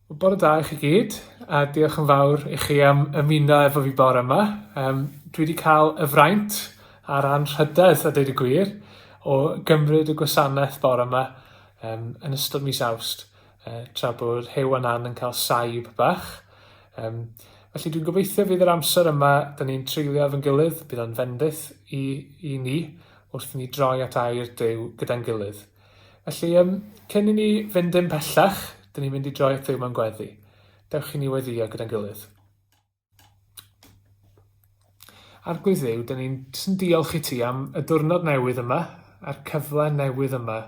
Wel, bore da i chi gyd, a diolch yn fawr i chi am ymuno efo fi bore yma. Um, dwi wedi cael y fraint a'r anrhydedd, a dweud y gwir, o gymryd y gwasanaeth bore yma um, yn ystod mis awst, uh, tra bod Hew a Nan yn cael saib bach. Um, felly dwi'n gobeithio fydd yr amser yma, da ni'n treulio efo'n gilydd, bydd o'n fendith i, i ni, wrth i ni droi at air Duw gyda'n gilydd. Felly, um, cyn i ni fynd yn pellach, dyn ni'n mynd i droi at Duw mewn gweddi. Dewch i ni weddio gyda'n gilydd. Arglwydd Dduw, dyn ni'n sy'n diolch i ti am y diwrnod newydd yma, a'r cyfle newydd yma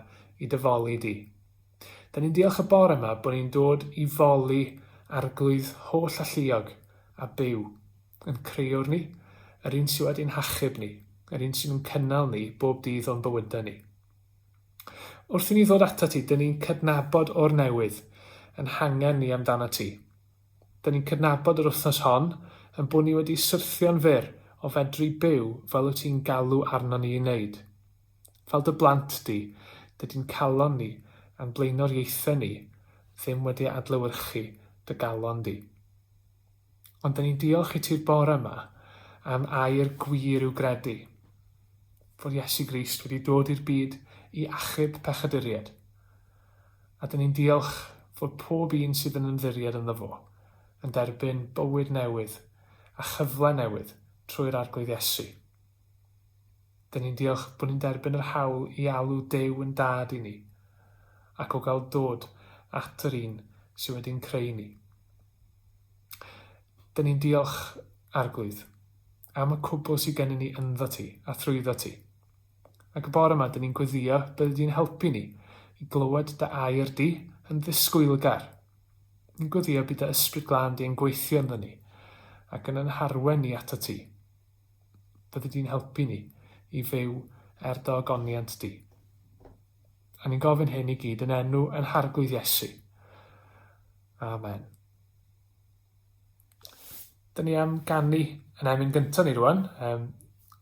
i dyfoli di. Dyn ni'n diolch y bore yma bod ni'n dod i foli arglwydd holl alluog a byw. Ein Crëwr ni, yr un sydd wedi'n hachub ni, yr un sydd yn cynnal ni bob dydd o'n bywydau ni. Wrth i ni ddod atat ti, dyn ni'n cydnabod o'r newydd yn hangen ni amdanat ti. Dyn ni'n cydnabod yr wythnos hon yn bod ni wedi syrthio'n fyr o fedru byw fel wyt ti'n galw arnon ni i wneud. Fel dy blant di, dydy'n calon ni a'n blaenoriaethau ni ddim wedi adlewyrchu dy galon di. Ond dan ni'n diolch i ti'r bore yma am air gwir i'w gredu, fod Iesu Grist wedi dod i'r byd i achub pechaduried. A dan ni'n diolch fod pob un sydd yn ymddiried ynddo fo yn derbyn bywyd newydd a chyfle newydd trwy'r Arglwydd Iesu. Dan ni'n diolch bod ni'n derbyn yr hawl i alw Duw yn Dad i ni, ac o gael dod at yr un sydd wedi'n creu ni. Dyn ni'n diolch, Arglwydd, am y cwbl sydd gennym ni ynddo ti a thrwyddo ti. Ac y bore yma, dyn ni'n gweddio byddi di'n helpu ni i glywed dy air di yn ddisgwylgar. Ni'n gweddio bydd dy ysbryd glân di yn gweithio ynddo ni ac yn yn harwen ni ato ti. Byddi di'n helpu ni i fyw er dy ogoniant di. A ni'n gofyn hyn i gyd yn enw yn harglwydd Iesu. Amen. Dyna ni am gannu yn emyn gyntaf ni rwan. Um,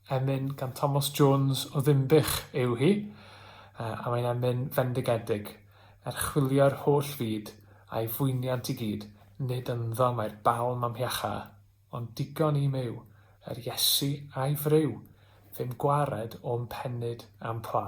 emyn gan Thomas Jones o Ddimbych yw hi, uh, a mae'n emyn fendigedig. Er chwilio'r holl fyd a'i fwyniant i gyd, nid ynddo mae'r balm amhiacha. Ond digon i'm yw, er Iesu a'i fryw, ddim gwared o'm pennyd a'm pla.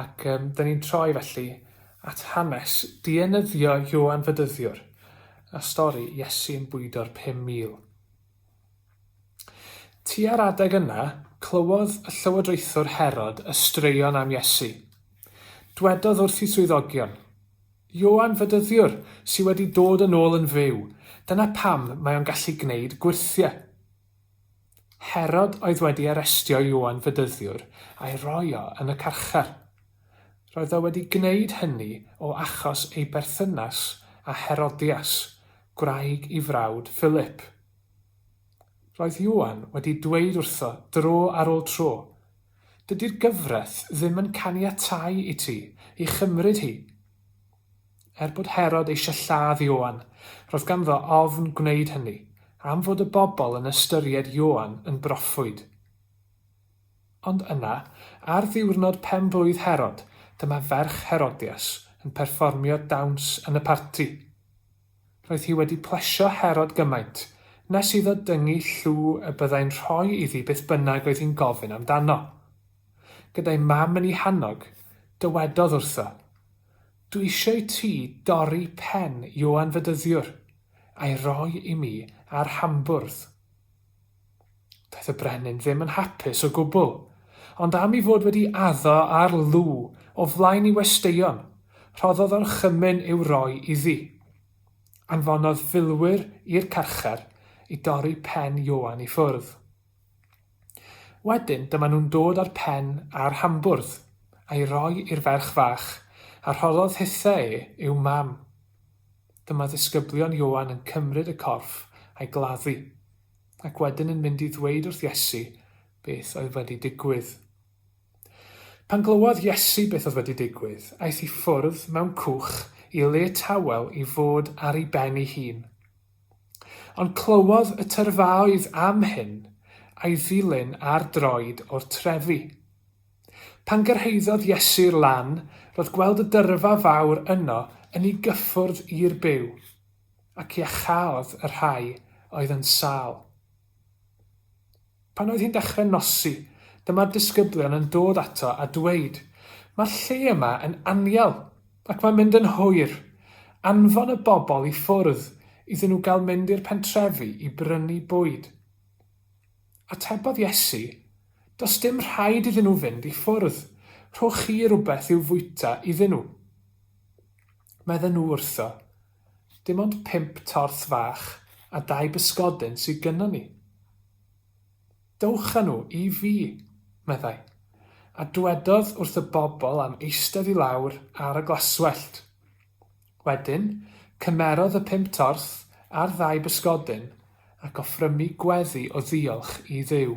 Ac um, dyn ni'n troi felly at hanes dienyddio Ioan Fydyddiwr a stori Iesu'n bwydo'r 5,000. Tua'r adeg yna, clywodd y llywodraethwr Herod y straeon am Iesu. Dwedodd wrthi swyddogion, Ioan Fydyddiwr sydd wedi dod yn ôl yn fyw, dyna pam mae o'n gallu gwneud gwyrthiau. Herod oedd wedi arestio Ioan Fedyddiwr a'i roi o yn y carchar. Roedd o wedi gwneud hynny o achos ei berthynas â Herodias, gwraig i frawd Philip. Roedd Ioan wedi dweud wrtho dro ar ôl tro, Dydy'r gyfraith ddim yn caniatáu i ti ei chymryd hi. Er bod Herod eisiau lladd Ioan, roedd ganddo ofn gwneud hynny, am fod y bobl yn ystyried Ioan yn broffwyd. Ond yna, ar ddiwrnod pen-blwydd Herod, dyma ferch Herodias yn perfformio dawns yn y parti. Roedd hi wedi plesio Herod gymaint nes iddo dyngu llw y byddai'n rhoi iddi beth bynnag oedd hi'n gofyn amdano. Gyda'i mam yn ei hannog, dywedodd wrtho, Dw eisiau ti dorri pen Ioan Fedyddiwr, a'i roi i mi ar hambwrdd. Daeth y brenin ddim yn hapus o gwbl, ond am ei fod wedi addo ar Lugh o flaen ei westeion, rhoddodd orchymyn i'w roi iddi. Anfonodd filwyr i'r carchar i dorri pen Ioan i ffwrdd. Wedyn dyma nhw'n dod â'r pen a'r hambwrdd, a'i roi i'r ferch fach, a rhoddodd hithe e i'w mam. Dyma ddisgyblion Ioan yn cymryd y corff a'i gladdu, ac wedyn yn mynd i ddweud wrth Iesu beth oedd wedi digwydd. Pan glywodd Iesu beth oedd wedi digwydd, aeth i ffwrdd mewn cwch i le tawel i fod ar ei ben ei hun. Ond clywodd y tyrfaoedd am hyn, a'i ddilyn ar droed o'r trefi. Pan gyrhaeddodd Iesu'r lan, roedd gweld y dyrfa fawr yno yn i gyffwrdd i'r byw, ac iachaodd y rhai oedd yn sâl. Pan oedd hi'n dechrau nosi, dyma'r disgyblion yn dod ato a dweud, Mae'r lle yma yn anial, ac mae'n mynd yn hwyr. Anfon y bobl i ffwrdd iddyn nhw gael mynd i'r pentrefi i brynu bwyd. Atebodd Iesu, Does dim rhaid iddyn nhw fynd i ffwrdd, rhowch chi rywbeth i'w fwyta iddyn nhw. Medden nhw wrtho, Dim ond pump torth fach a dau bysgodyn sydd gynnon ni. Dowch â nhw i fi, meddai, a dwedodd wrth y bobl am eistedd i lawr ar y glaswellt. Wedyn, cymerodd y pump torth a'r ddau bysgodyn ac offrymu gweddi o ddiolch i Dduw.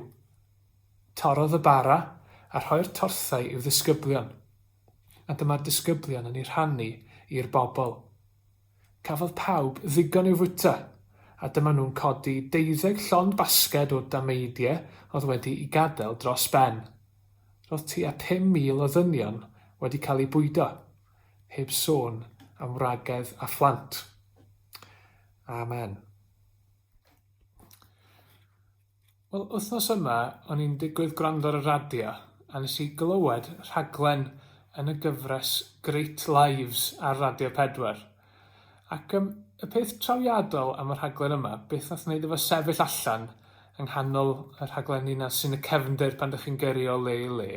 Torrodd y bara a rhoi'r torthau i'w ddisgyblion. a dyma'r disgyblion yn ei rhannu i'r bobl. Cafodd pawb ddigon i'w fwyta, a dyma nhw'n codi deuddeg llond basged o dameidie oedd wedi'i gadael dros ben. Roedd tua 5,000 o ddynion wedi cael eu bwydo, heb sôn am wragedd a phlant. Amen. Wel, wythnos yma o'n i'n digwydd gwrando ar y radio a nes i glywed rhaglen yn y gyfres Great Lives ar Radio 4. Ac yym, y peth trawiadol am y rhaglen yma, beth nath wneud efo sefyll allan yng nghanol y rhaglenni 'na sy'n y cefndir pan 'dych chi'n gyrru o le i le,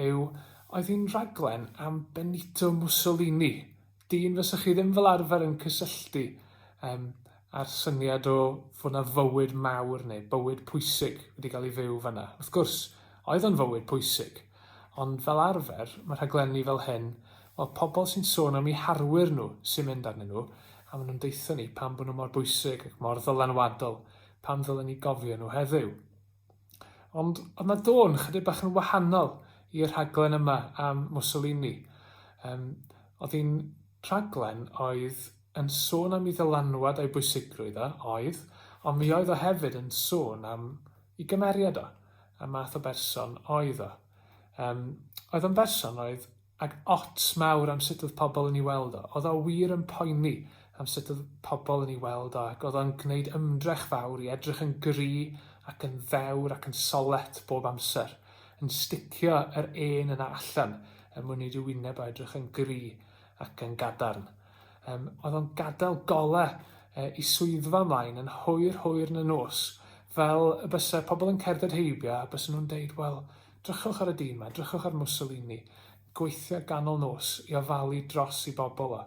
yw oedd hi'n rhaglen am Benito Mussolini, Dyn fysa chi ddim fel arfer yn cysylltu um, a'r syniad o fod yna fywyd mawr neu bywyd pwysig wedi cael ei fyw fanna. Wrth gwrs, oedd o'n fywyd pwysig, ond fel arfer, mae rhaglenni fel hyn, wel, pobl sy'n sôn am eu harwyr nhw sy'n mynd arnyn nhw, a maen nhw'n deutho ni pam bod nhw mor bwysig ac mor ddylanwadol, pam ddylen ni gofio nhw heddiw. Ond oedd 'na dôn chydig bach yn wahanol i'r rhaglen yma am Mussolini. Um, oedd hi'n rhaglen oedd yn sôn am ei ddylanwad a'i bwysigrwydd o, oedd, ond mi oedd o hefyd yn sôn am ei gymeriad o, y math o berson oedd o. Um, oedd o'n berson oedd Ag ots mawr am sut oedd pobl yn ei weld o. Oedd o wir yn poeni am sut oedd pobl yn ei weld o ac oedd o'n gwneud ymdrech fawr i edrych yn gry ac yn ddewr ac yn solet bob amser, yn sticio yr ên yna allan er mwyn wneud ei wyneb o edrych yn gry ac yn gadarn. Yym, oedd o'n gadael golau e, i swyddfa ymlaen yn hwyr hwyr yn y nos, fel y byse pobl yn cerdded heibio a byse nhw'n deud, wel, Drychwch ar y dyn 'ma, drychwch ar Mussolini, gweithio ganol nos i ofalu dros 'i bobl o,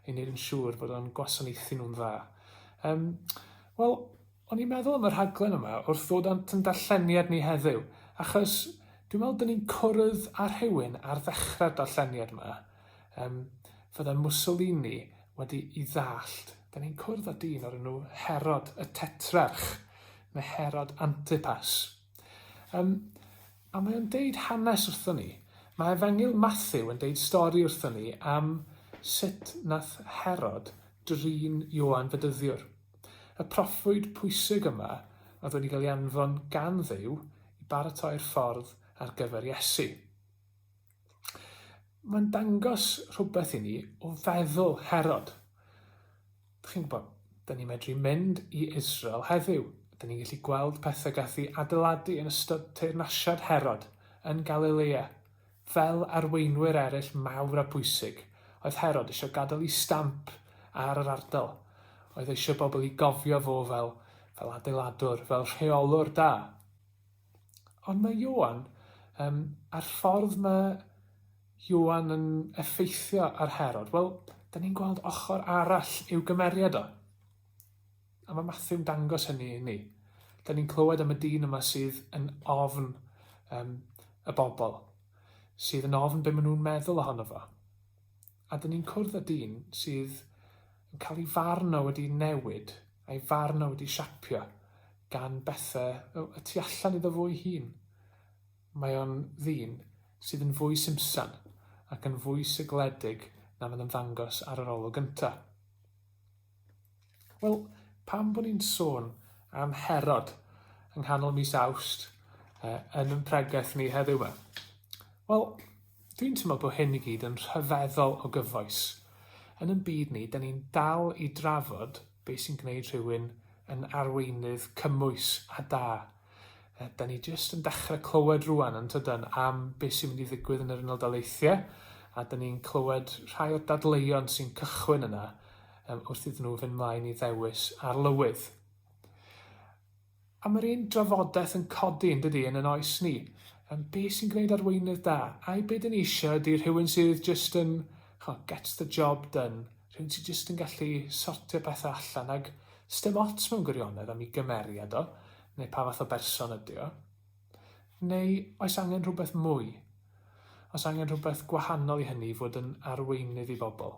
i wneud yn siŵr bod o'n gwasanaethu nhw'n dda. Yym, wel, o'n i'n meddwl am y rhaglen yma wrth ddod â'n yn darlleniad ni heddiw, achos dwi'n meddwl 'dyn ni'n cwrdd â rhywun ar ddechrau'r darlleniad yma, yym, fydda Mussolini wedi i ddallt, 'dyn ni'n cwrdd â dyn o'r enw Herod y Tetrarch, neu Herod Antipas. Um, a mae o'n deud hanes wrthon ni. Mae Efengyl Matthew yn deud stori wrthon ni am sut nath Herod drin Ioan Fedyddiwr. Y proffwyd pwysig yma oedd wedi cael ei anfon gan ddew i baratoi'r ffordd ar gyfer Iesu. Mae'n dangos rhywbeth i ni o feddwl Herod. Chi'n gwybod, dyn ni'n medru mynd i Israel heddiw. Dyn ni'n gallu gweld pethau gath i adeiladu yn ystod teyrnasiad Herod yn Galilea. Fel arweinwyr eraill mawr a pwysig, oedd Herod eisiau gadael i stamp ar yr ardal. Oedd eisiau bobl i gofio fo fel, fel adeiladwr, fel rheolwr da. Ond mae Ioan, um, a'r ffordd mae Ioan yn effeithio ar Herod, wel, da ni'n gweld ochr arall i'w gymeriad o. A mae Matthew'n dangos hynny i ni. Da ni'n clywed am y dyn yma sydd yn ofn um, y bobl, sydd yn ofn beth maen nhw'n meddwl ohono fo. a dyn ni'n cwrdd â dyn sydd yn cael ei farn o wedi newid, a'i farn o wedi siapio gan bethau y tu allan iddo fo'i hun. Mae o'n ddyn sydd yn fwy simsan ac yn fwy sigledig na fydd yn ddangos ar yr olwg gyntaf. Wel, pam bod ni'n sôn am Herod yng nghanol mis Awst uh, yn yn pregaeth ni heddiw yma? Wel, dwi'n teimlo bod hyn i gyd yn rhyfeddol o gyfoes. Yn yn byd ni, da ni'n dal i drafod beth sy'n gwneud rhywun yn arweinydd cymwys a da Da ni jyst yn dechrau clywed rwan yn tydan am beth sy'n mynd i ddigwydd yn yr Unol Daleithiau a da ni'n clywed rhai o'r dadleuon sy'n cychwyn yna wrth iddyn nhw fynd mlaen i ddewis ar lywydd. A mae'r un drafodaeth yn codi yn dydy yn yn oes ni. Yn be sy'n gwneud arweinydd da? Ai be dyn ni eisiau ydy rhywun sydd just yn, chwa, gets the job done, rhywun sydd just yn gallu sortio pethau allan ac Sdim ots mewn gwirionedd am 'i gymeriad o, neu pa fath o berson ydy o. Neu oes angen rhywbeth mwy? Oes angen rhywbeth gwahanol i hynny i fod yn arweinydd i bobl?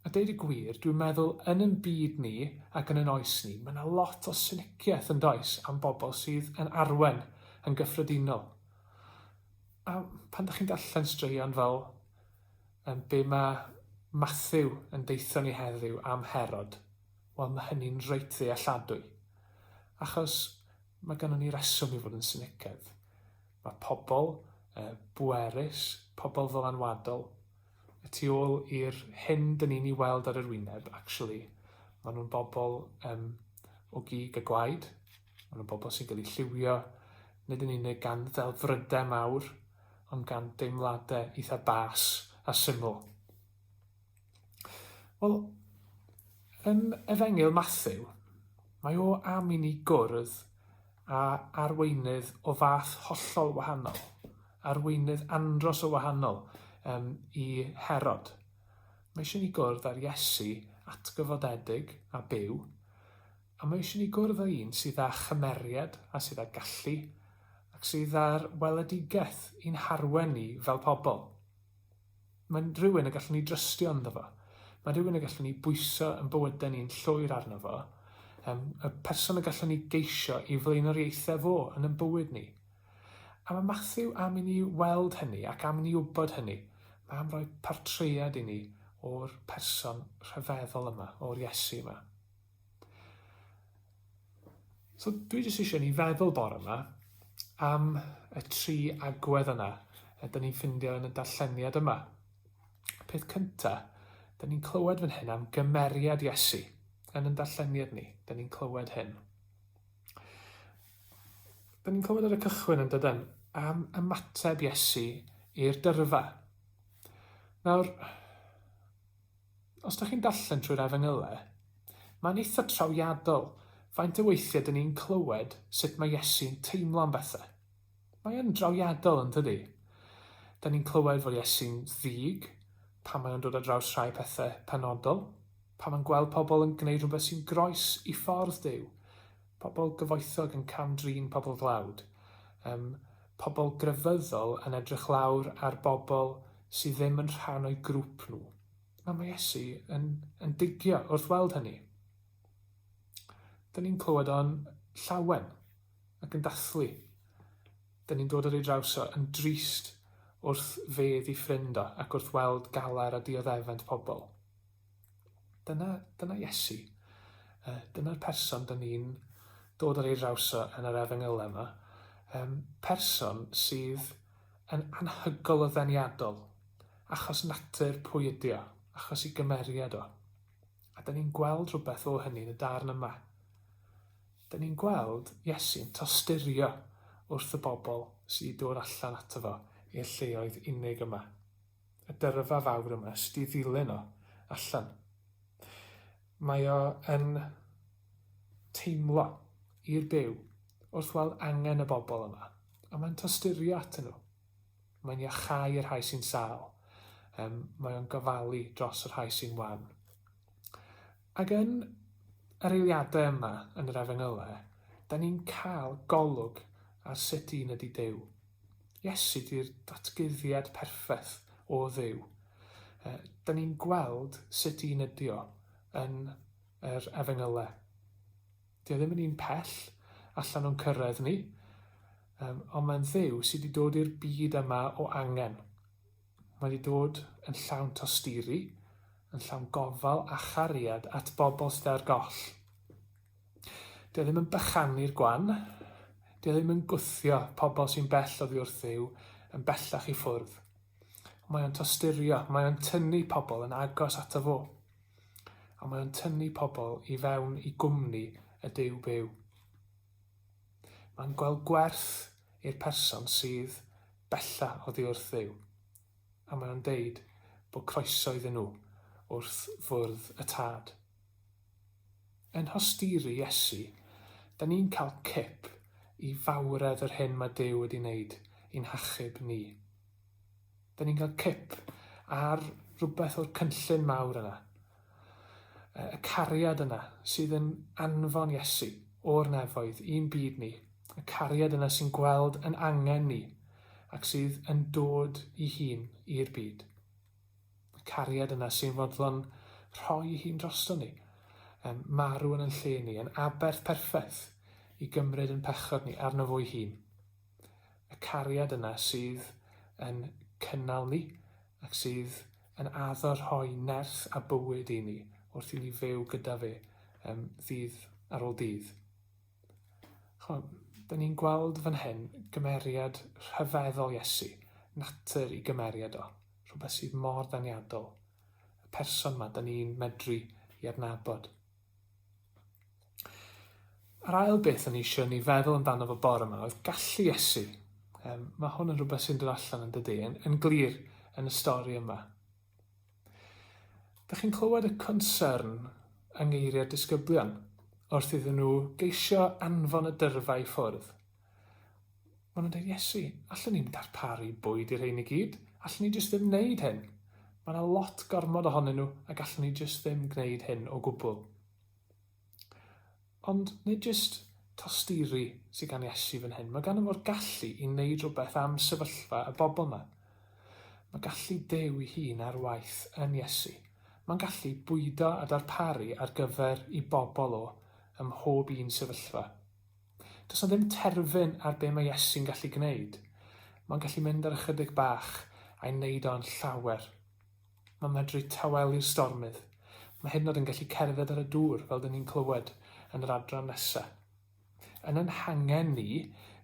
A deud y gwir, dwi'n meddwl yn yn byd ni ac yn yn oes ni, mae 'na lot o syniciaeth yn does am bobl sydd yn arwen yn gyffredinol. A pan 'da chi'n darllen straeon fel Yym, be ma' Mathew yn deutho ni heddiw am Herod? Wel, ma' hynny'n reit ddealladwy. Achos ma' gynnon ni reswm i fod yn sinicedd. Ma' pobl yy bwerus, pobl ddylanwadol, y tu ôl i'r hyn 'dyn ni'n 'i weld ar yr wyneb, actually, ma' nhw'n bobl yym o gig y gwaed. Maen nhw'n bobl sy'n cael eu lliwio, nid yn unig gan ddelfrydau mawr, ond gan deimladau eitha bas a syml. Wel, yn Efengyl Matthew, mae o am i ni gwrdd a arweinydd o fath hollol wahanol, arweinydd andros o wahanol um, i Herod. Mae eisiau ni gwrdd ar Iesu atgyfodedig a byw, A mae eisiau ni gwrdd â un sydd â chymeriad a sydd â gallu ac sydd â'r weledigaeth i'n harwen ni fel pobl. Mae'n rhywun y gallwn ni drystio ynddo fo. Mae'n rhywun y gallwn ni bwyso yn bywydau ni'n llwyr arno fo, um, y person y gallwn ni geisio i flaenoriaethau fo yn yn bywyd ni. A mae Matthew am i ni weld hynny ac am i ni wybod hynny. Mae am roi portread i ni o'r person rhyfeddol yma, o'r Iesu yma. So dwi jyst eisiau ni feddwl bore yma am y tri agwedd yna y dyn ni'n ffindio yn y darlleniad yma. Peth cynta, dyn ni'n clywed fan hyn am gymeriad Iesu yn y darlleniad ni. Dyn ni'n clywed hyn. Dyn ni'n clywed ar y cychwyn yn dydyn am ymateb Iesu i'r dyrfa. Nawr, Os dych chi'n darllen trwy'r Efengylau, mae'n eitha trawiadol faint o weithiau dyn ni'n clywed sut mae Iesu'n teimlo am bethau. Mae yn drawiadol, yn dydi? Dyn ni'n clywed fod Iesu'n ddig pan mae o'n dod ar draws rhai pethau penodol, pan mae'n gweld pobl yn gwneud rhywbeth sy'n groes i ffordd Duw, Pobl gyfoethog yn cam-drin pobl dlawd. Yym, pobl grefyddol yn edrych lawr ar bobl sydd ddim yn rhan o'u grŵp nhw. A mae Iesu yn, yn digio wrth weld hynny. Dyn ni'n clywed o'n llawen ac yn dathlu. Dyn ni'n dod ar ei draws o yn drist wrth fedd i ffrind o ac wrth weld galar a dioddefent pobl. Dyna, dyna Iesu. Uh, dyna'r person dyn ni'n dod ar ei draws o yn yr efengylau yma. Um, person sydd yn anhygol o ddeniadol, achos natur pwy ydi o, achos i gymeriad o. A dyn ni'n gweld rhywbeth o hynny yn y darn yma. Dyn ni'n gweld Iesu'n tosturio wrth y bobl sy'n dod allan ato fo i'r lleoedd unig yma. y dyrfa fawr yma, jyst i ddilyn o allan. Mae o yn teimlo i'r Duw wrth weld angen y bobl yma, a mae'n tosturio atyn nhw. Mae'n iachau y rhai sy'n sâl. Um, mae o'n gofalu dros y rhai sy'n wan. Ac yn yr eiliadau yma yn yr Efengylau, da ni'n cael golwg ar sut un ydy Duw. Iesu di'r datguddiad perffaith o Dduw. Da ni'n gweld sut un ydy o yn yr Efengylau. Dio ddim yn un pell allan o'n cyrraedd ni, ond mae'n Dduw sydd wedi dod i'r byd yma o angen. Mae wedi dod yn llawn tosturi, yn llawn gofal a chariad at bobl sydd ar goll. Dio ddim yn bychanu'r gwan, dio ddim yn gwthio pobl sy'n bell oddi wrthyw yn bellach i ffwrdd. Mae o'n tosturio, mae o'n tynnu pobl yn agos ato fo. A mae o'n tynnu pobl i fewn i gwmni y Duw byw. Mae'n gweld gwerth i'r person sydd bellach oddi wrth Dduw, a mae o'n deud bod croeso iddyn nhw wrth fwrdd y Tad. Yn hosturi Iesu, da ni'n cael cip i fawredd yr hyn mae Duw wedi wneud i'n hachub ni. 'Da ni'n cael cip ar rhywbeth o'r cynllun mawr yna. Y cariad yna sydd yn anfon Iesu o'r nefoedd i'n byd ni. Y cariad yna sy'n gweld yn angen ni ac sydd yn dod i hun i'r byd. Y cariad yna sy'n fodlon rhoi ei hun drosto ni, yn marw yn yn lle ni, yn aberth perffaith i gymryd yn pechod ni arno fo'i hun. y cariad yna sydd yn cynnal ni ac sydd yn addo rhoi nerth a bywyd i ni wrth i ni fyw gyda fe um, ddydd ar ôl dydd. Chwa, da ni'n gweld fan hyn gymeriad rhyfeddol Iesu, natur i gymeriad o, rhywbeth sydd mor ddaniadol, y person mae da ni'n medru i adnabod. Yr ail beth o'n i eisiau ni feddwl amdano fo bore yma oedd gallu Iesu. Um, mae hwn yn rhywbeth sy'n dod allan yn dydy, yn, yn glir yn y stori yma. Dych chi'n clywed y concern yng ngeiriau'r disgyblion wrth iddyn nhw geisio anfon y dyrfa i ffwrdd. Maen nhw'n dweud, Iesu, allwn ni'n darparu bwyd i'r rhein i gyd? Allwn ni jyst ddim wneud hyn? Mae yna lot gormod ohonyn nhw a gallwn ni jyst ddim gwneud hyn o gwbl. Ond nid jyst tosturi sydd gan Iesu fan hyn. Mae gan fo'r gallu i wneud rhywbeth am sefyllfa y bobl yma. Mae gallu Duw i hun ar waith yn Iesu. Mae'n gallu bwydo a darparu ar gyfer i bobl o ym mhob un sefyllfa. Does 'na ddim terfyn ar be' mae Iesu'n gallu gwneud. Mae'n gallu mynd ar ychydig bach a'i wneud o yn llawer. Mae'n medru tawelu'r stormydd. Mae hyd yn oed yn gallu cerdded ar y dŵr, fel 'dyn ni'n clywed yn yr adran nesa. Yn ein hangen ni,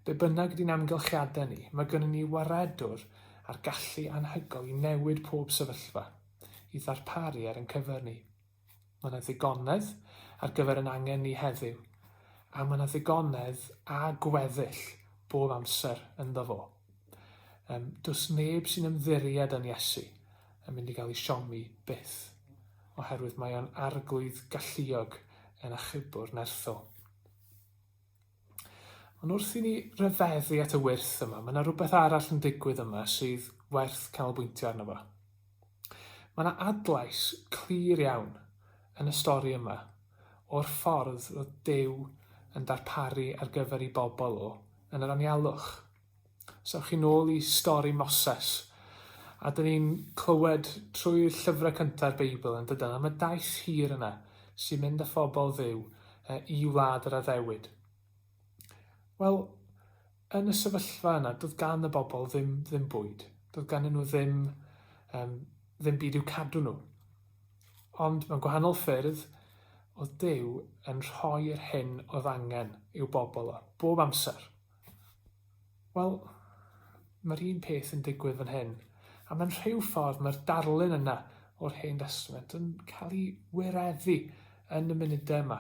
be' bynnag ydy'n amgylchiadau ni, mae gynnon ni Waredwr â'r gallu anhygoel i newid pob sefyllfa, i ddarparu ar ein cyfer ni. Mae yna ddigonedd ar gyfer ein angen ni heddiw, a mae yna ddigonedd a gweddill bob amser ynddo fo. Um, does neb sy'n ymddiried yn Iesu yn mynd i gael ei siomi byth, oherwydd mae o'n arglwydd galluog yn achubwr nerthol. Ond wrth i ni ryfeddu at y wyrth yma, mae yna rhywbeth arall yn digwydd yma sydd werth canolbwyntio arno fo. Mae yna adlais clir iawn yn y stori yma o'r ffordd roedd Duw yn darparu ar gyfer ei bobl o yn yr anialwch. So chi'n ôl i stori Moses, a dyn ni'n clywed trwy'r llyfrau cynta'r Beibl yn dydan, am y daith hir yna sy'n mynd â phobl ddiw e, i wlad yr addewid. Wel, yn y sefyllfa yna, doedd gan y bobl ddim, ddim bwyd. Doedd gan nhw ddim, um, ddim byd i'w cadw nhw. Ond mewn gwahanol ffyrdd, oedd Dyw yn rhoi'r hyn oedd angen i'w bobl o, bob amser. Wel, mae'r un peth yn digwydd fan hyn, a mae'n rhyw ffordd mae'r darlun yna o'r hen destament yn cael ei wireddu yn y munudau yma.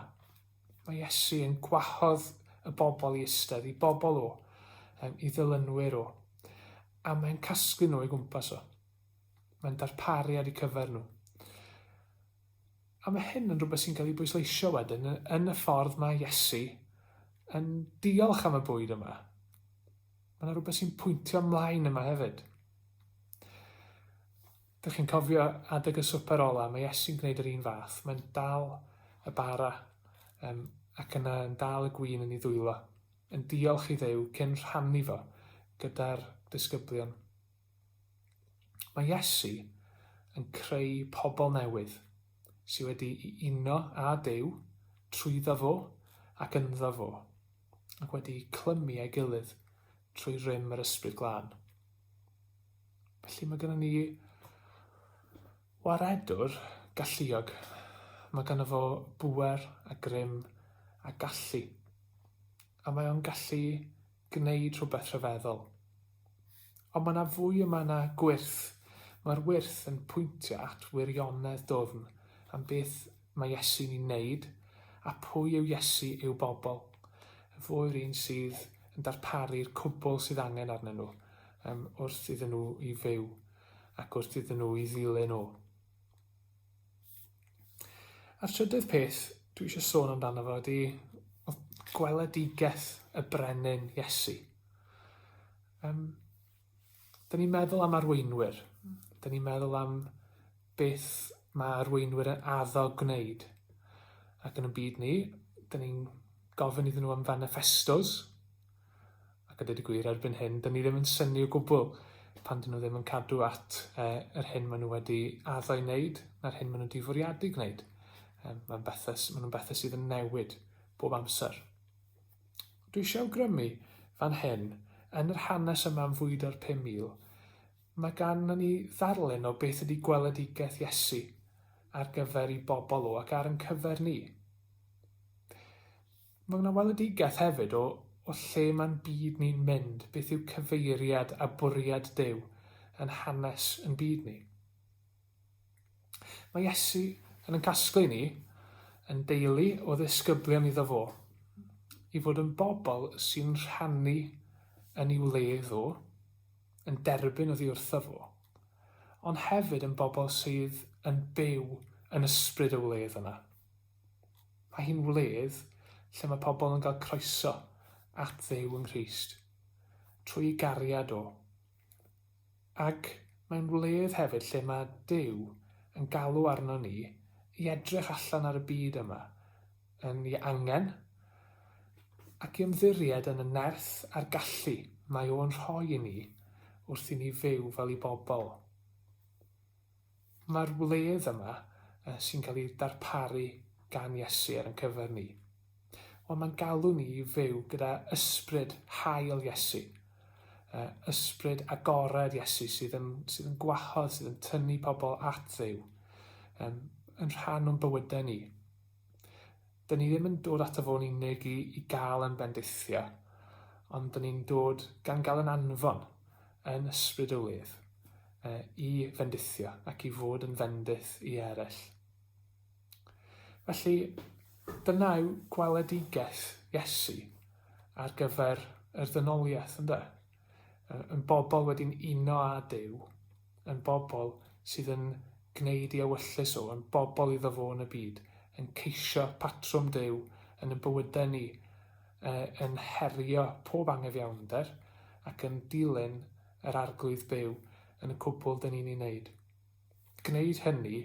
Mae Iesu yn gwahodd y bobl i eistedd, i bobl o, um, i ddilynwyr o, a mae'n casglu nhw i gwmpas o. Mae'n darparu ar eu cyfer nhw. A mae hyn yn rhywbeth sy'n cael ei bwysleisio wedyn yn y ffordd mae Iesu yn diolch am y bwyd yma. Mae yna rhywbeth sy'n pwyntio ymlaen yma hefyd. Dych chi'n cofio adeg y swper ola, mae Iesu'n gwneud yr un fath. Mae'n dal y bara um, ac yna yn dal y gwyn yn ei ddwylo, yn diolch i ddew cyn rhannu fo gyda'r disgyblion. Mae Iesu yn creu pobl newydd sydd wedi'i uno â Duw trwyddo fo ac ynddo fo, ac wedi'u clymu â'i gilydd trwy rym yr Ysbryd Glân. Felly mae gennym ni waredwr galluog. Mae ganddo fo bŵer a grym a gallu. A mae o'n gallu gwneud rhywbeth rhyfeddol. Ond mae yna fwy yma na gwyrth. Mae'r wyrth yn pwyntio at wirionedd dwfn am beth mae Iesu'n ei wneud a pwy yw Iesu i'w bobl. Fo yw'r un sydd yn darparu'r cwbl sydd angen arnyn nhw um, wrth iddyn nhw i fyw ac wrth iddyn nhw i ddilyn o. A'r trydydd peth dwi eisiau sôn amdano fo ydy gweledigaeth y brenin Iesu. Um, Dyna ni'n meddwl am arweinwyr. Dyna ni'n meddwl am beth mae arweinwyr yn addo gwneud. Ac yn y byd ni, dyna ni'n gofyn iddyn nhw am fanifestos, Ac a dweud y gwir, erbyn hyn, dyn ni ddim yn syni o gwbl pan dyn nhw ddim yn cadw at eh, yr hyn maen nhw wedi addo i wneud, na'r hyn maen nhw wedi fwriadu gwneud. Eh, mae'n bethau, maen nhw'n bethau sydd yn newid bob amser. Dwi eisiau awgrymu fan hyn, yn yr hanes yma am fwyd ar 5,000, mae gan ni ddarlun o beth ydy gweledigaeth Iesu ar gyfer i bobl o ac ar yn cyfer ni. Mae yna weledigaeth hefyd o o lle mae'n byd ni'n mynd, beth yw cyfeiriad a bwriad Duw yn hanes yn byd ni. Mae Iesu yn yn casglu ni, yn deulu o ddisgyblion iddo fo, i fod yn bobl sy'n rhannu yn ei wle ddo, yn derbyn o ddiwrtho fo, ond hefyd yn bobl sydd yn byw yn ysbryd y wledd yna. Mae hi'n wledd lle mae pobl yn cael croeso at Dduw yng Nghrist, trwy gariad o. Ac mae'n wledd hefyd lle mae Duw yn galw arno ni i edrych allan ar y byd yma, yn ei angen, ac i ymddiried yn y nerth a'r gallu mae o'n rhoi i ni wrth i ni fyw fel ei bobl. Mae'r wledd yma sy'n cael ei darparu gan Iesu ar ein cyfer ni. Ond mae'n galw ni i fyw gyda ysbryd hael Iesu, ysbryd agored Iesu sydd yn, sydd yn gwahodd, sydd yn tynnu pobl at ddew, yn rhan o'n bywydau ni. Dyn ni ddim yn dod ato fo'n unig i, i gael yn bendithio, ond dyn ni'n dod gan gael yn anfon, yn ysbryd o wedd, uh, i fendithio ac i fod yn fendith i eraill. Felly, dyna yw gweledigaeth Iesu ar gyfer yr ddynoliaeth, ynddo? Yn bobl wedi'n uno â Dyw, yn bobl sydd yn gwneud i ewyllys o, yn bobl iddo fo yn y byd, yn ceisio patrwm Duw yn ein bywydau ni, yn herio pob angyfiawnder ac yn dilyn yr Arglwydd byw yn y cwbl dyn ni'n ei wneud. Gwneud hynny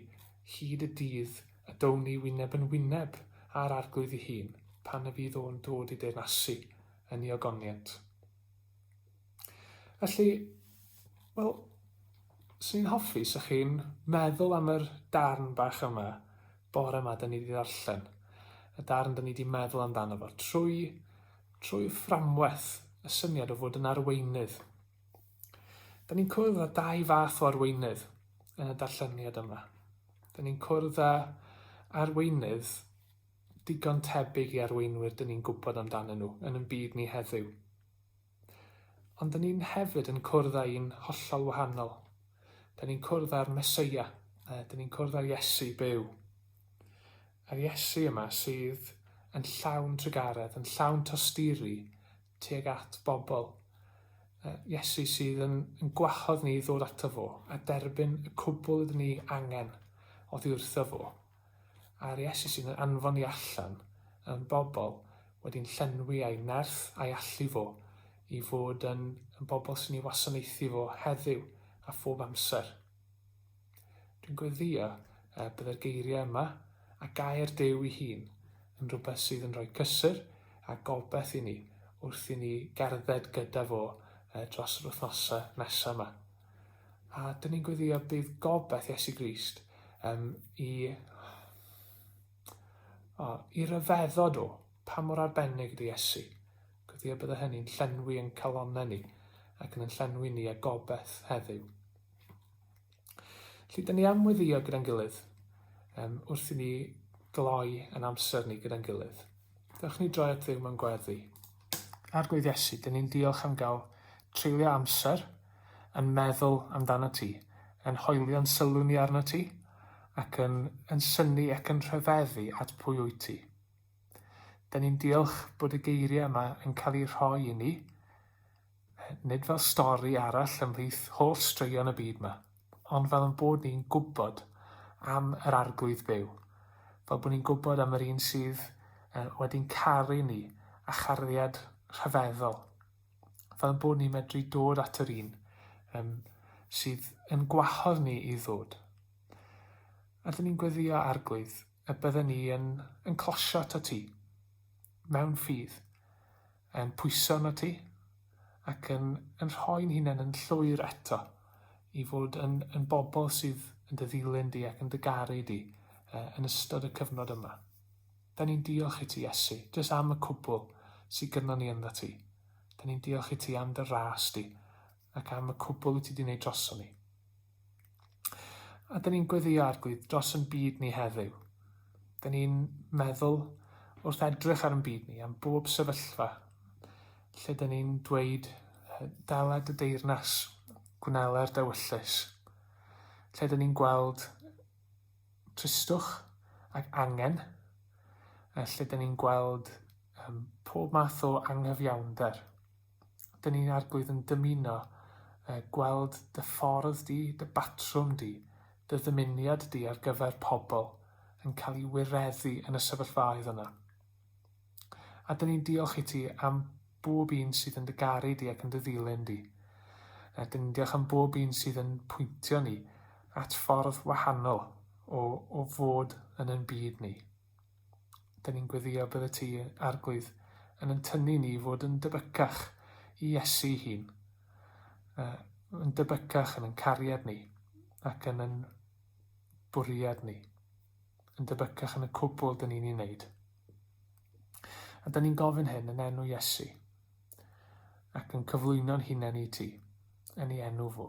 hyd y dydd y down ni wyneb yn wyneb â'r Arglwydd ei hun pan y bydd o'n dod i deyrnasu yn ei ogoniant. Felly, wel, swn i'n hoffi sa chi'n meddwl am yr darn bach yma bore yma 'dyn ni wedi ddarllen. Y darn 'dyn ni wedi meddwl amdano fo trwy, trwy fframwaith y syniad o fod yn arweinydd. Dyn ni'n cwrdd â dau fath o arweinydd yn y darlleniad yma. Dyn ni'n cwrdd â arweinydd digon tebyg i arweinwyr dyn ni'n gwybod amdanyn nhw yn yn byd ni heddiw. Ond 'dyn ni'n hefyd yn cwrdd â un hollol wahanol. 'Dyn ni'n cwrdd â'r Mesoea, uh, 'dyn ni'n cwrdd â'r Iesu byw. Yr Iesu yma sydd yn llawn trugaredd, yn llawn tosturi tuag at bobl. Uh, Iesu sydd yn, yn gwahodd ni i ddod ato fo a derbyn y cwbl ydyn ni angen oddi wrtho fo. a'r Iesu sydd yn anfon ni allan yn bobl wedi'n llenwi â'i nerth a'i allu fo i fod yn bobl sy'n ei wasanaethu fo heddiw a phob amser. Dwi'n gweddïo y byddai'r geiriau yma a gair Duw ei hun yn rhywbeth sydd yn rhoi cysur a gobaith i ni wrth i ni gerdded gyda fo dros yr wythnosau nesaf yma. A dyn ni'n gweddio bydd gobaith Iesu Grist um, i, o, i ryfeddod o pa mor arbennig ydy Iesu. Gweddio bydd hynny'n llenwi yn calonau ni ac yn llenwi ni a gobaith heddiw. Felly, dyn ni am weddio gyda'n gilydd um, wrth i ni gloi yn amser ni gyda'n gilydd. Dewch ni droi at Dduw mewn gweddi. Arglwydd Iesu, dyn ni'n diolch am gael treulio amser yn meddwl amdano ti, yn hoelio'n sylw ni arno ti, ac yn, yn syni ac yn rhyfeddu at pwy wyt ti. Dyn ni'n diolch bod y geiriau yma yn cael eu rhoi i ni, Nid fel stori arall ymhlith holl straeon y byd 'ma, ond fel ein bod ni'n gwybod am yr Arglwydd byw. Fel bod ni'n gwybod am yr un sydd uh, wedi'n caru ni a chariad rhyfeddol. Fel ein bod ni'n medru dod at yr un um, sydd yn gwahodd ni i ddod. Ydyn ni'n gweddio arglwydd y bydden ni yn, yn closio ta ti, mewn ffydd, yn pwyso arnot ti, ac yn, yn rhoi'n hunain yn llwyr eto i fod yn, yn bobl sydd yn dy ddilyn di ac yn dy garu di uh, yn ystod y cyfnod yma. Da ni'n diolch i ti, Iesu, jyst am y cwbl sydd gyda ni ynddo ti. Da ni'n diolch i ti am dy ras di ac am y cwbl wyt ti wedi gwneud droson ni. A dyn ni'n gweddio arglwydd dros yn byd ni heddiw. Dyn ni'n meddwl wrth edrych ar yn byd ni am bob sefyllfa lle dyn ni'n dweud dala dy deyrnas, gwneler dywyllus, lle dyn ni'n gweld tristwch ac angen, a lle dyn ni'n gweld um, pob math o anghyfiawnder. 'dyn ni'n arglwydd yn dymuno uh, gweld dy ffordd di, dy batrwm di, dy ddymuniad di ar gyfer pobl yn cael ei wireddu yn y sefyllfaoedd yna. A dyn ni'n diolch i ti am bob un sydd yn dy garu di ac yn dy ddilyn di. A dyn ni'n diolch am bob un sydd yn pwyntio ni at ffordd wahanol o, o fod yn yn byd ni. Dyn ni'n gweddïo bydd y Ty, Arglwydd, yn yn tynnu ni i fod yn debycach i Iesu'i hun, yn debycach yn yn cariad ni ac yn yn bwriad ni, yn debycach yn y cwbl dyn ni'n ei wneud. A dyn ni'n gofyn hyn yn enw Iesu ac yn cyflwyno'n hunain i Ti, yn ei enw fo.